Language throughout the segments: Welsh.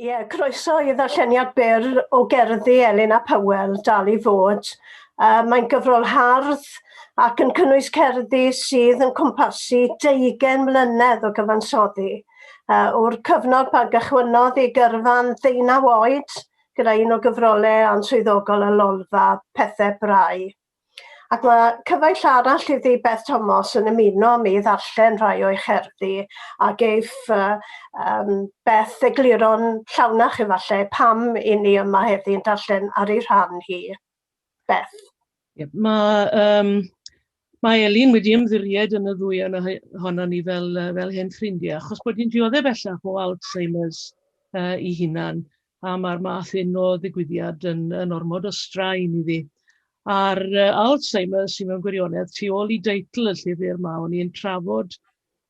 Ie, yeah, croeso i ddarlleniad byr o gerddi Elin a Powell, dal i fod. Uh, mae'n gyfrol hardd ac yn cynnwys cerddi sydd yn cwmpasu 20 mlynedd o gyfansoddi. Uh, o'r cyfnod pan gychwynnodd i gyrfa'n ddeunaw oed gyda un o gyfrolau answyddogol y lolfa Pethau Brau. Ac mae cyfaill arall iddi, Beth Tomos, yn ymuno â mi i ddarllen rhai o'i cherddi, a geiff uh, um, Beth egluro'n llawnach efallai pam i ni yma heddi yn darllen ar ei rhan hi. Beth. Yep, mae, um, mae Elin wedi ymddiried yn y ddwy yna honna ni fel, fel hen ffrindiau, achos bod hi'n dioddef bellach o Alzheimer's uh, i hunan. a mae'r math hyn o ddigwyddiad yn, yn ormod o straen i fi. A'r uh, Alzheimer sy'n mewn gwirionedd tu ôl i deitl y llyfr mae o'n i'n trafod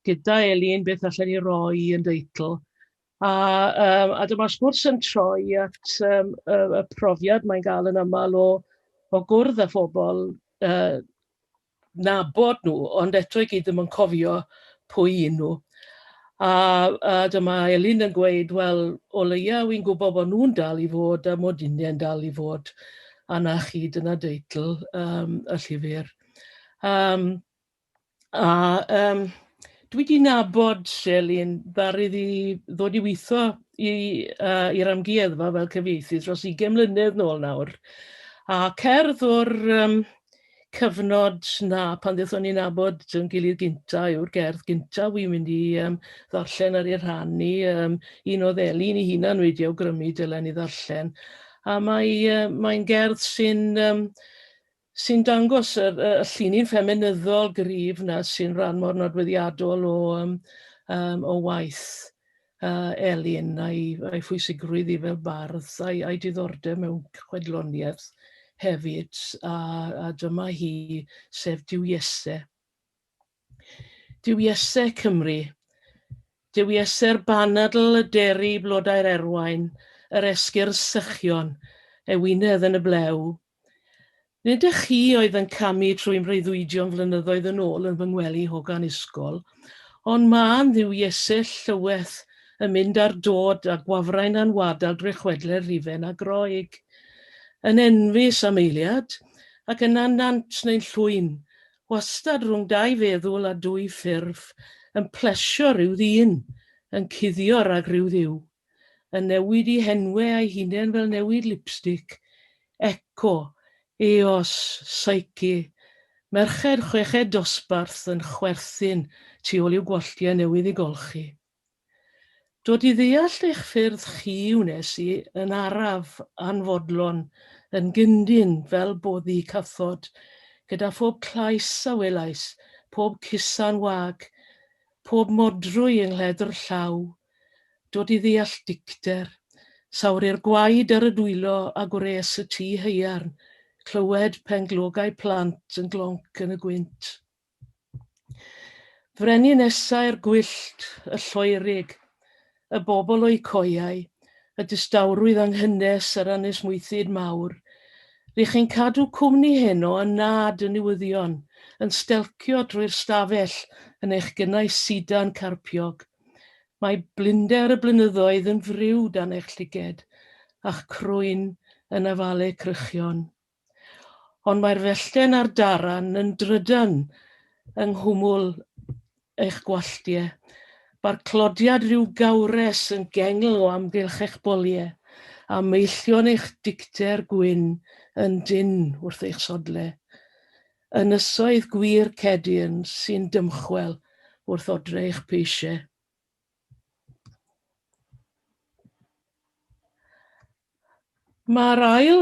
gyda Elin beth allan ni roi yn deitl. A, um, a dyma'r sgwrs yn troi at um, y, y profiad mae'n gael yn aml o, o gwrdd â phobl uh, cydnabod nhw, ond eto i gyd ddim yn cofio pwy un nhw. A, a dyma Elin yn gweud, wel, o leia wy'n gwybod bod nhw'n dal i fod a mod i'n dal i fod. A na chi, dyna deitl um, y llyfr. Um, a um, dwi di nabod Elin ddar iddi ddod i weithio i'r uh, i amgueddfa fel cyfieithydd dros 20 mlynedd nôl nawr. A cerdd o'r um, cyfnod 'na pan ddethon ni nabod yn gilydd gynta yw'r gerdd gynta wi'n mynd i um, ddarllen ar ei rhannu. Um, un oedd Elin i hunan wedi awgrymu dylen i ddarllen. A mae, uh, mae'n gerdd sy'n um, sy dangos y, y, y llini'n ffeminyddol grif na sy'n rhan mor nodweddiadol o, um, um, o waith uh, Elin a'i, a'i phwysigrwydd i fel bardd a'i, a'i diddordeb mewn chwedloniaeth hefyd a, a dyma hi sef Diwyese. Diwyese Cymru. Dywiese'r banadl y deri blodau'r erwain, yr esgyrn sychion, ewinedd yn y blew, Nid y chi oedd yn camu trwy mreuddwydion flynyddoedd yn ôl yn fy ngwely hogan ysgol, ond mân Dduw Iesu llyweth yn mynd ar dod a gwafrain a'n wadal drwy chwedle'r rhifen a Groeg. Yn enfys am eiliad, ac yna nant neu'n llwyn, wastad rhwng dau feddwl a dwy ffurf, yn plesio rhyw ddyn, yn cuddio rhag rhyw Dduw. yn newid i henwe a'i hunen fel newid lipstic, Eco, Eos, Psyche, merched chweched dosbarth yn chwerthin tu ôl i'w gwalltiau newydd i golchi. Dod i ddeall eich ffyrdd chi wnes i yn araf anfodlon yn gyndyn fel boddi cathod gyda phob tlais a welais, pob cusan wag Pob modrwy yng nghledr llaw, dod i ddeall dicter, sawri'r gwaed ar y dwylo a gwres y tŷ haearn, clywed penglogau plant yn glonc yn y gwynt. Frenin nesai'r gwyllt, y lloerig, y bobl o'u coeau, y distawrwydd yng nghynnes yr ynys mwythyd mawr. Ry' chi'n cadw cwmni heno yn nhad y newyddion, yn stelcio trwy'r stafell yn eich gynnau sidan carpiog. Mae blinder y blynyddoedd yn friw dan eich llyged, a'ch crwyn yn afalu crychion. Ond mae'r fellten a'r daran yn drydan yng nghwmwl eich gwalltie. Mae'r clodiad rhyw gawres yn gengl o amgylch eich bolie, a meillion eich dicter gwyn yn dynn wrth eich sodle. Ynysoedd gwir cedyrn sy'n dymchwel wrth odre eich peisie. Mae'r ail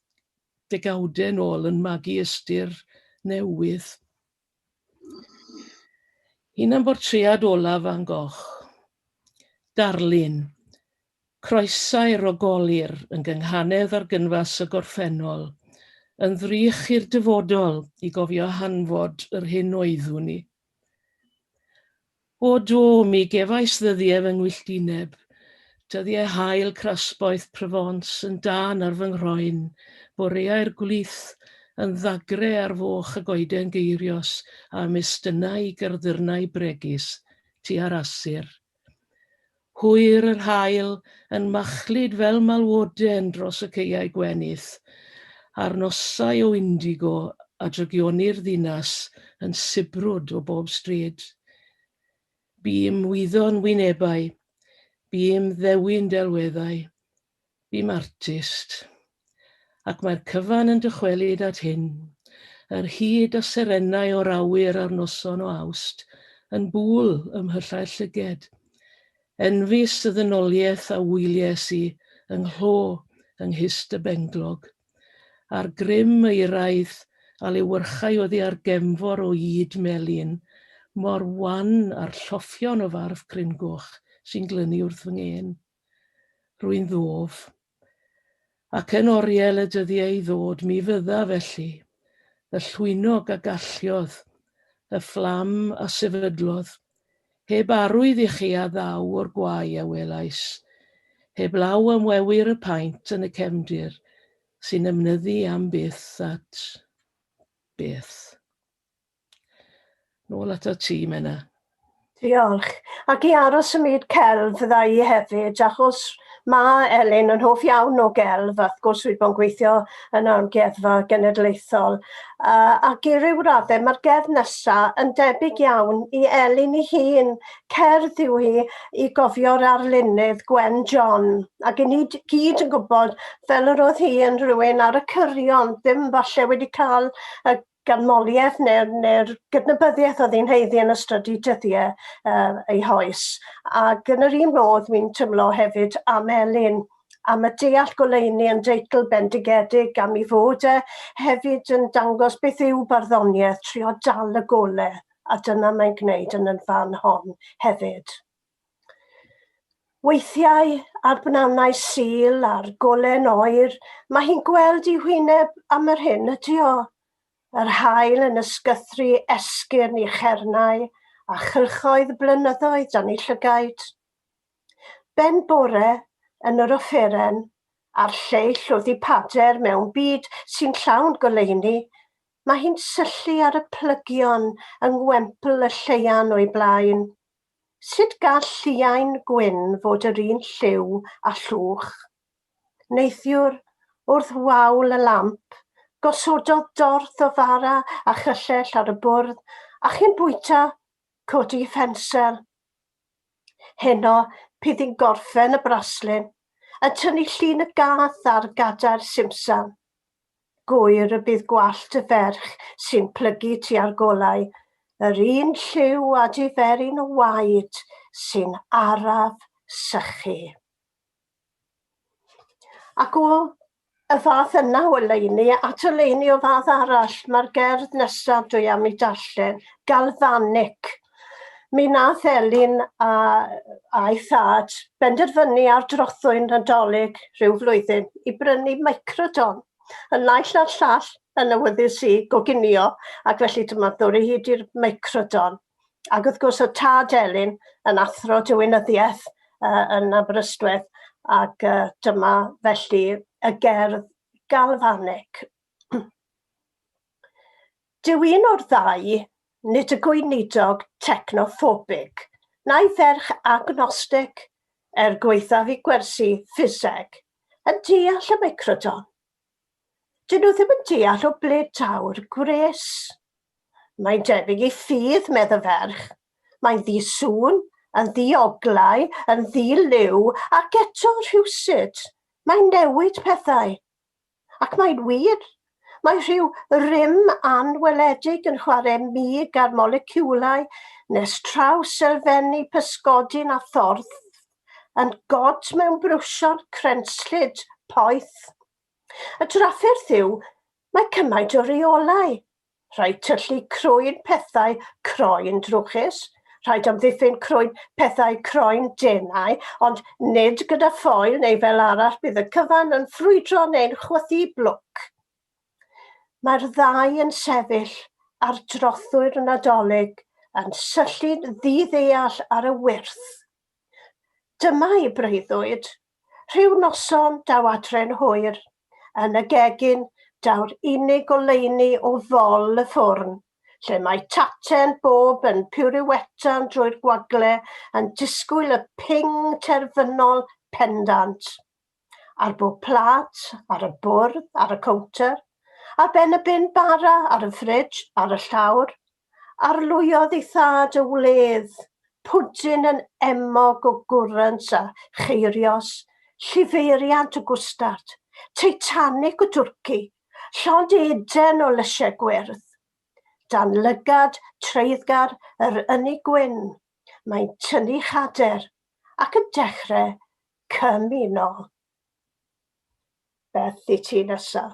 degawdau yn ôl yn magu ystyr newydd. Hunanbortread olaf Van Gogh. Darlun. Croesau rogolir yn gynghanedd ar gynfas y gorffennol, yn ddrych i'r dyfodol i gofio hanfod yr hyn oeddwn i. O do, mi gefais ddyddiau fy ngwylltineb, dyddiau haul crasboeth Provence yn dân ar fy nghroen, boreau'r gwlith yn ddagre ar foch y goeden geirios a'm estynnai i garddyrnau bregus tua'r Asir. Hwyr yr haul yn machlud fel malwoden dros y caeau gwenith, a'r nosau o indigo a drygionir ddinas yn sibrwd o bob stryd. Bûm wyddon wynebau, bûm ddewin delweddau, Bum artist, ac mae'r cyfan yn dychwelyd at hyn, yr hyd a serenau o'r awyr ar noson o Awst yn Bŵl ym mhyllau llyged. Enfys y ddynoliaeth a wylies i yng nghlo yng Nghist y Benglog, a'r grym euraidd a lewyrchai oddi ar gemfor o ŷd melyn, mor wan â'r lloffion o farf cryn goch sy'n glynu wrth fy ngên. Rwy'n ddof. Ac yn oriel y dyddiau i ddod mi fydda, felly, y llwynog a galliodd, y fflam a sefydlodd, heb arwydd i chi a ddaw o'r gwae a welais, heb law am wewyr y paent yn y cefndir, sy'n ymnyddu am byth at byth. Nôl at y tîm yna. Diolch. Ac i aros ym myd celf fydda i hefyd, achos mae Elin yn hoff iawn o gelf, a wrth gwrs wedi bod yn gweithio yn Amgueddfa Genedlaethol. Uh, ac i ryw raddau mae'r gerdd nesa yn debyg iawn i Elin i hun. Cerdd yw hi i gofio'r arlunydd Gwen John. Ac i ni gyd yn gwybod fel yr oedd hi yn rhywun ar y cyrion, ddim falle wedi cael y ganmoliaeth neu'r neu'r gydnabyddiaeth oedd hi'n haeddu yn ystod ei dyddiau uh, ei hoes. Ac yn yr un modd mi'n tymlo hefyd am Elin, am y deall goleuni yn deitl bendigedig am ei fod e hefyd yn dangos beth yw barddoniaeth, trio dal y gole, a dyna mae'n gwneud yn y fan hon hefyd. Weithiau, ar bnannau Sul a'r gole'n oer, mae hi'n gweld ei hwyneb am yr hyn ydy o. Yr haul yn ysgythru esgyrn i chernau a chylchoedd blynyddoedd dan ei llygaid. Ben bore, yn yr offeren, a'r lleill oddi pader mewn byd sy'n llawn goleuni, mae hi'n syllu ar y plygion yng ngwempl y lleian o'i blaen. Sut gall lliain gwyn fod yr un lliw â llwch? Neithiwr, wrth waul y lamp, gosododd dorth o fara a chyllell ar y bwrdd, a chyn bwyta, codi ffensel. Heno, p'yd yn gorffen y braslun, yn tynnu llun y gath ar gadair simsan. gŵyr y bydd gwallt y ferch sy'n plygu tua'r golau yr un lliw â diferyn y waed sy'n araf sychu. Ac o y fath yna o oleuni at oleuni o fath arall, mae'r gerdd nesaf dwi am ei darllen, galfanic. Mi nath Elin a, a'i thad benderfynu ar drothwy'n Nadolig rhyw flwyddyn i brynu microdon. Yn naill na'r llall, yn awyddus i goginio, ac felly dyma ddwr i hyd i'r microdon. Ac wrth gwrs o tad Elin yn athro diwinyddiaeth uh, yn Aberystwyth, ac uh, dyma felly y gerdd galfanig. Dyw un o'r ddau nid y gweinidog technophobig, na'i ferch agnostig, er gwaethaf i gwersi ffiseg, yn deall y meicrodon. Dyn nhw ddim yn deall o ble daw'r gwres. Mae'n debyg i ffydd, medd y ferch. Mae'n ddi-sŵn, yn ddi-oglau, yn ddi-liw, ac eto rhywsut, mae'n newid pethau. Ac mae'n wir! Mae rhyw rym anweledig yn chwarae mig ar moleciwlau nes traws elfenni pysgodyn a thorth, yn god mewn brwsion crenslyd poeth. Y drafferth yw, mae cymaint o reolau, Rhaid tyllu croen pethau croen drwchus, rhaid amddiffyn croen pethau croen denau, ond nid gyda ffoil neu fel arall bydd y cyfan yn ffrwydro neu'n chwythu blwc. Mae'r ddau yn sefyll ar drothwy'r Nadolig yn syllu'n ddiddeall ar y wyrth. Dyma'i breuddwyd, Rhyw noson daw adre'n hwyr, yn y gegin daw'r unig goleuni o fol y ffwrn, lle mae Tate'n bob yn piwriwetan drwy'r gwagle yn disgwyl y ping terfynol pendant. Ar bob plât, ar y bwrdd, ar y cownter, ar ben y bin bara, ar y ffridj, ar y llawr, Arlwyodd ei thad y wledd, pwdin yn emog o gwrant a cheirios, llifeiriant y gwstard, Titanic y twrci, llond Eden o lysiau gwyrdd. Dan lygad treiddgar yr ynni gwyn, mae'n tynnu chader ac yn dechrau cymuno. Beth i ti nesa?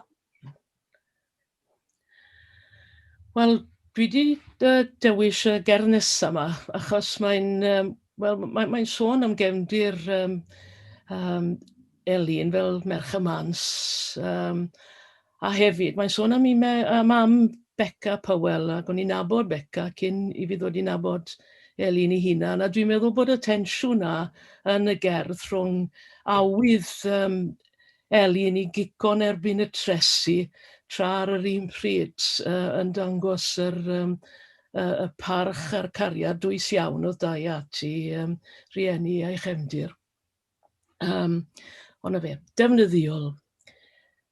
Wel, dwi wedi uh, dewis y gerdd nesaf yma, achos mae'n um, well, mae, mae sôn am gefndir um, um, Elin fel merch y mans, um, A hefyd, mae'n sôn am, me, am, am Becca Powell, ac o'n i'n nabod Becca cyn i fi ddod i nabod Elin i hunan, a dwi'n meddwl bod y tensiwn na yn y gerdd rhwng awydd um, Elin i gico'n erbyn y tresi tra ar yr un pryd uh, yn dangos yr, um, uh, y parch a'r cariad dwys iawn oedd dau ati um, rhieni a'i chefndir. Um, ond na fe, defnyddiol.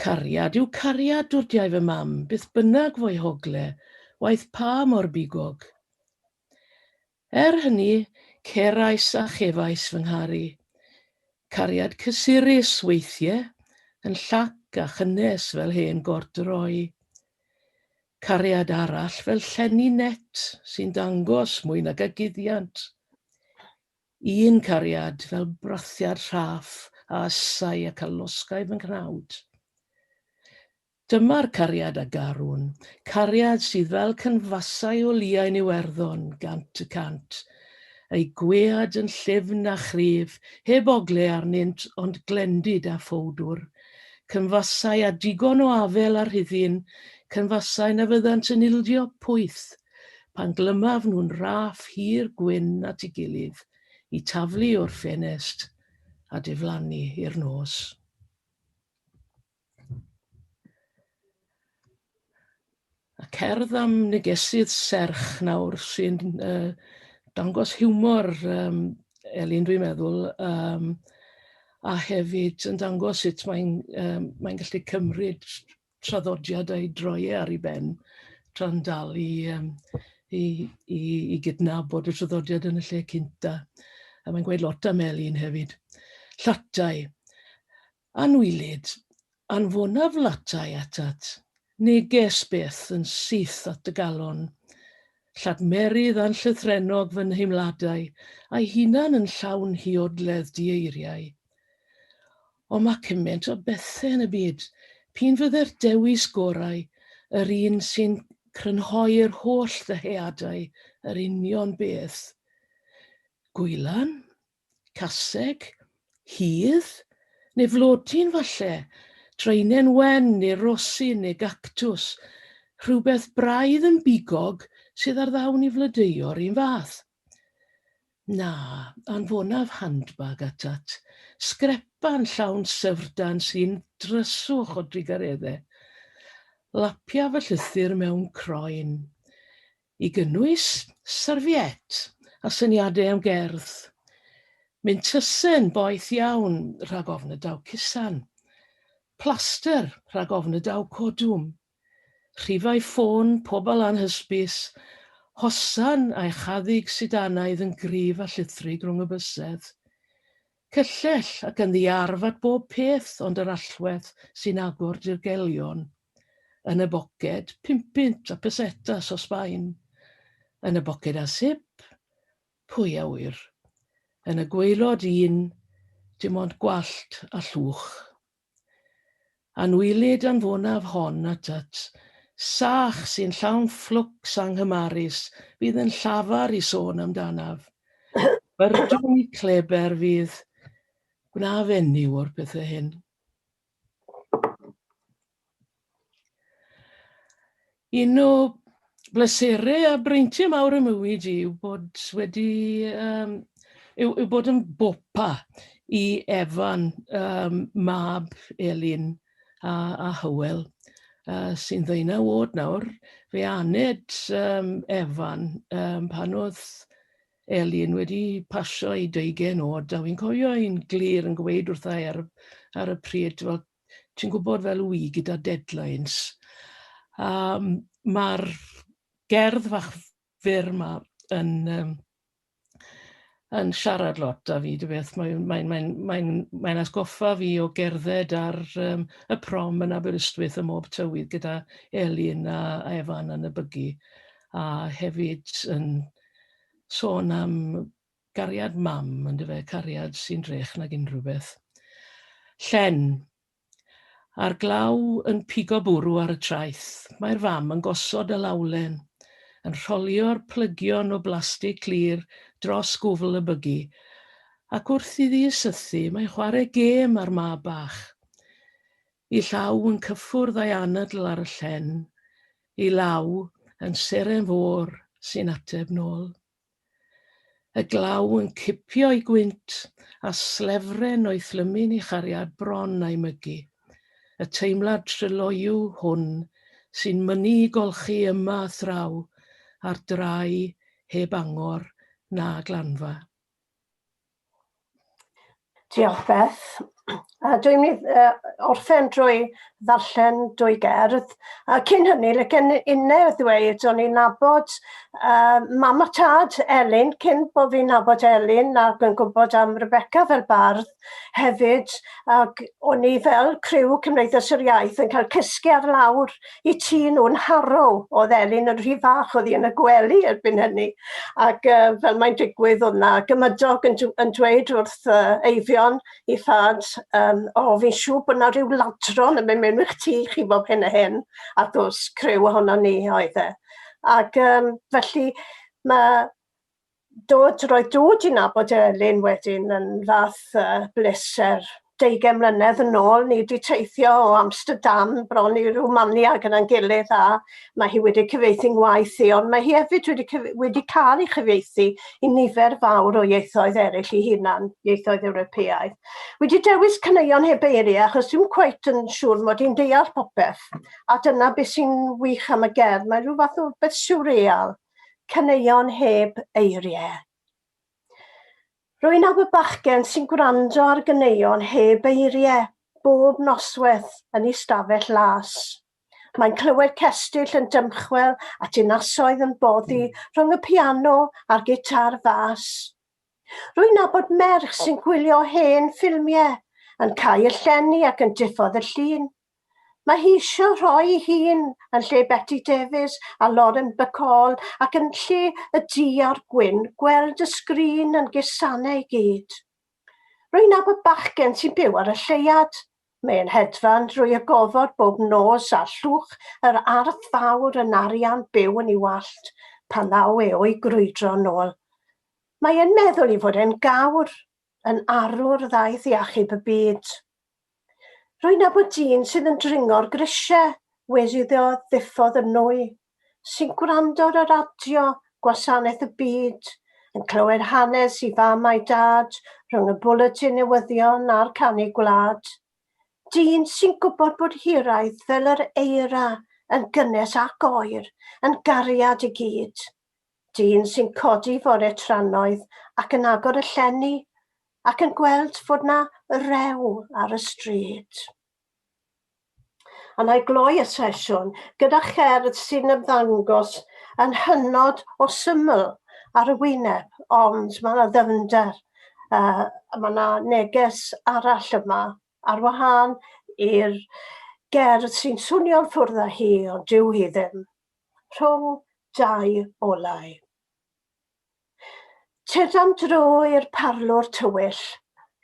Cariad yw cariad, dwdiai fy mam, beth bynnag fo'i hogle, waeth pa mor bigog. Er hynny, cerais a chefais fy ngharu. Cariad cysurus, weithie, yn llac a chynnes fel hen gordroi. Cariad arall fel llenni net, sy'n dangos, mwy nag a guddiant. Un cariad fel brathiad rhaff a ysai ac a losgai fy nghnawd. Dyma'r cariad a garwn, cariad sydd fel cynfasau o liain Iwerddon gant y cant, eu gwead yn llyfn a chryf, heb ogle arnynt ond glendid a phowdwr, cynfasau â digon o afel a rhuddin, cynfasau na fyddant yn ildio pwyth pan glymaf nhw'n raff hir gwyn at ei gilydd i taflu o'r ffenest a diflannu i'r nos. A cerdd am negesydd serch nawr sy'n uh, dangos hiwmor um, Elin dwi'n meddwl, um, a hefyd yn dangos sut mae'n um, mae gallu cymryd traddodiad a'i droi e ar 'i ben tra'n dal i yym i i i gydnabod y traddodiad yn y lle cynta. A mae'n gweud lot am Elin hefyd. Llatai. Anwylyd, anfonaf latai atat. Neges byth yn syth at dy galon. Lladmerydd anllythrennog fy nheimladau, a'i hunan yn llawn hiodledd dieiriau. Ond mae cymaint o bethau yn y byd. P'un fydde'r dewis gorau yr un sy'n crynhoi'r holl ddyheadau yr union beth. Gwylan? Caseg? Hudd? Neu flodyn falle? Draenen wen neu rosyn neu gactws? Rhywbeth braidd yn bigog sydd ar ddawn i flodeuo'r un fath. Na, anfonaf handbag atat, sgrepan llawn syfrdan sy'n dryswch o drugareddau. Lapia fy llythyr mewn croen, i gynnwys serviette a syniadau am gerdd. Mintysen boeth iawn rhag ofn y daw cusan. Plaster rhag ofn y daw codwm. Rhifau ffôn pobl anhysbys, hosan a echaddig sidanaidd yn gryf a llithrig rhwng y bysedd. Cyllell ac yn ddiarf at bob peth ond yr allwedd sy'n agor dirgelion. Yn y boced, pumpunt a pesetas o Sbaen. Yn y boced â sip? Pwy a ŵyr. Yn y gwaelod un, dim ond gwallt a llwch. Anwylid anfonaf hon atat, sach sy'n llawn fflwcs anghymarus fydd yn llafar i sôn amdanaf. Byrdwn i Kleber fydd gwna fenyw o'r pethau hyn. Un o bleserau a breintiau mawr y mywyd i yw bod wedi um, yw, yw bod yn bopa i Evan, um, mab Elin a, a Hywel, uh, sy'n ddeunau wod nawr. Fe aned um, Evan um, pan oedd Elin wedi pasio i deugen oed, a fi'n cofio i'n glir yn gweud wrtha ar, ar y pryd, wel, ti'n gwybod fel wi gyda deadlines a mae'r gerdd fach fyr yma yn um, yn siarad lot â fi, dwi beth, mae'n mae, mae, mae, mae asgoffa fi o gerdded ar um, y prom yn Aberystwyth ym mhob tywydd gyda Elin a, a Evan yn y bygu, a hefyd yn sôn am Cariad mam yndyfe, cariad sy'n drech nag unrhyw beth. Llen. A'r glaw yn pigo bwrw ar y traeth. Mae'r fam yn gosod y lawlen, yn rholio'r plygion o blastig clir dros gwfl y bygi, ac wrth iddi sythu, mae'n chwarae gêm â'r mab bach. Ei llaw yn cyffwrdd a'i anadl ar y llen, ei law yn seren fôr sy'n ateb nôl. Y glaw yn cipio'i gwynt, a slefren o'i thlymu'n ei chariad bron a'i mygu. Y teimlad tryloyw hwn sy'n mynnu'i golchi yma a thraw ar drai heb angor na glanfa. Diolch Beth. A dwi'n mynd i uh, orffen drwy ddarllen dwy gerdd. A cyn hynny, le gen unne ddweud, o'n i'n nabod uh, mam a tad Elin, cyn bod fi'n nabod Elin ac yn gwybod am Rebecca fel bardd hefyd, ac o'n i fel criw Cymdeithas yr Iaith yn cael cysgu ar lawr i ti nhw'n harrow. Oedd Elin yn rhy fach oedd hi yn y gwely erbyn hynny. Ac uh, fel mae'n digwydd oedd na gymydog yn, yn dweud wrth uh, Eifion i thad, um, o oh, fi'n siŵr bod na rhyw ladron yn mynd mewn i'ch tŷ chi bob hyn a hyn. A dos crew ohono ni oedd e. Ac um, felly mae dod, roedd dod i nabod Elin wedyn yn fath uh, bleser. 20 mlynedd yn ôl, ni wedi teithio o Amsterdam bron i Rwmania gyda'n gilydd a mae hi wedi cyfeithi ngwaith i, ond mae hi hefyd wedi, wedi cael ei chyfeithi i nifer fawr o ieithoedd eraill i hunan, ieithoedd Ewropeaidd. Wedi dewis caneuon heb eiriau achos dim cweit yn siŵr mod i'n deall popeth, a dyna beth sy'n wych am y gerdd, mae rhywbeth o beth siwreal. caneuon heb eiriau. Rwy'n awr bachgen sy'n gwrando ar ganeuon heb eiriau bob noswaith yn ei stafell las. Mae'n clywed cestyll yn dymchwel a dinasoedd yn boddi rhwng y piano a'r gitar fas. Rwy'n nabod merch sy'n gwylio hen ffilmiau, yn cau y llenni ac yn diffodd y llun. Mae hi eisiau rhoi ei hun yn lle Beti Davies a Lauren Bacall ac yn lle y du a'r gwyn gweld y sgrin yn gusane i gyd. Rwy'n nabod bachgen sy'n byw ar y lleuad. Mae e'n hedfan drwy y gofod bob nos a llwch yr ardd fawr yn arian byw yn ei wallt pan ddaw e o'i grwydro yn ôl. Mae e'n meddwl ei fod e'n gawr, yn arwr ddaeth i achub y byd. Rwy'n nabod dyn sydd yn dringo'r grisiau wedi iddo ddiffodd yn nwy, sy'n gwrando ar y radio, gwasanaeth y byd, yn clywed hanes i fam a'i dad rhwng y bwletin newyddion a'r canu gwlad. Dyn sy'n gwybod bod hiraeth fel yr eira yn gynnes ac oer yn gariad i gyd. Dyn sy'n codi fore trannoeth ac yn agor y llenni ac yn gweld fod 'na rew ar y stryd. A na i gloi y sesiwn gyda cherdd sy'n ymddangos yn hynod o syml ar y wyneb, ond mae yna ddyfnder, uh, mae yna neges arall yma, ar wahân i'r gerdd sy'n swnio'n ffwrdd â hi, ond dyw hi ddim. rhwng dau olau. Tydam drwy'r parlwr tywyll.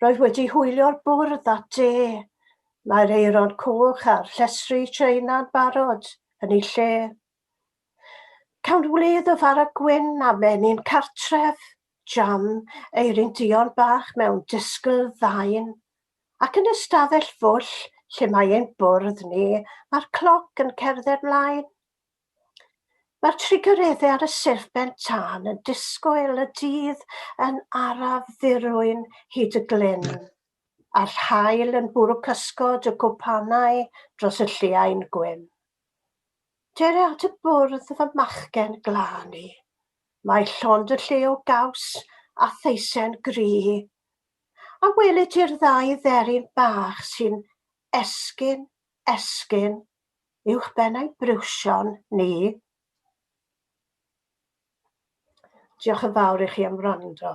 Roedd wedi hwylio'r bwrdd at de. Mae'r aeron coch a'r llestri Tsieina'n barod yn ei lle. Cawn wlydd o fara gwyn a menyn cartref, jam, eirin duon bach mewn disgyl ddain, Ac yn y stafell fwll lle mae ein bwrdd ni, mae'r cloc yn cerdded mlaen. Mae'r trigaredde ar y serpent tân yn disgwyl y dydd yn araf ddirwyn hyd y glyn, a'r haul yn bwrw cysgod y cwpanau dros y lliain gwyn. Dere at y bwrdd fy machgen glân i. Mae llond y lle o gaws a theisen gry, A welit ti'r ddau dderyn bach sy'n esgyn, esgyn, uwch ben ein briwsion ni? Diolch yn fawr i chi am wrando.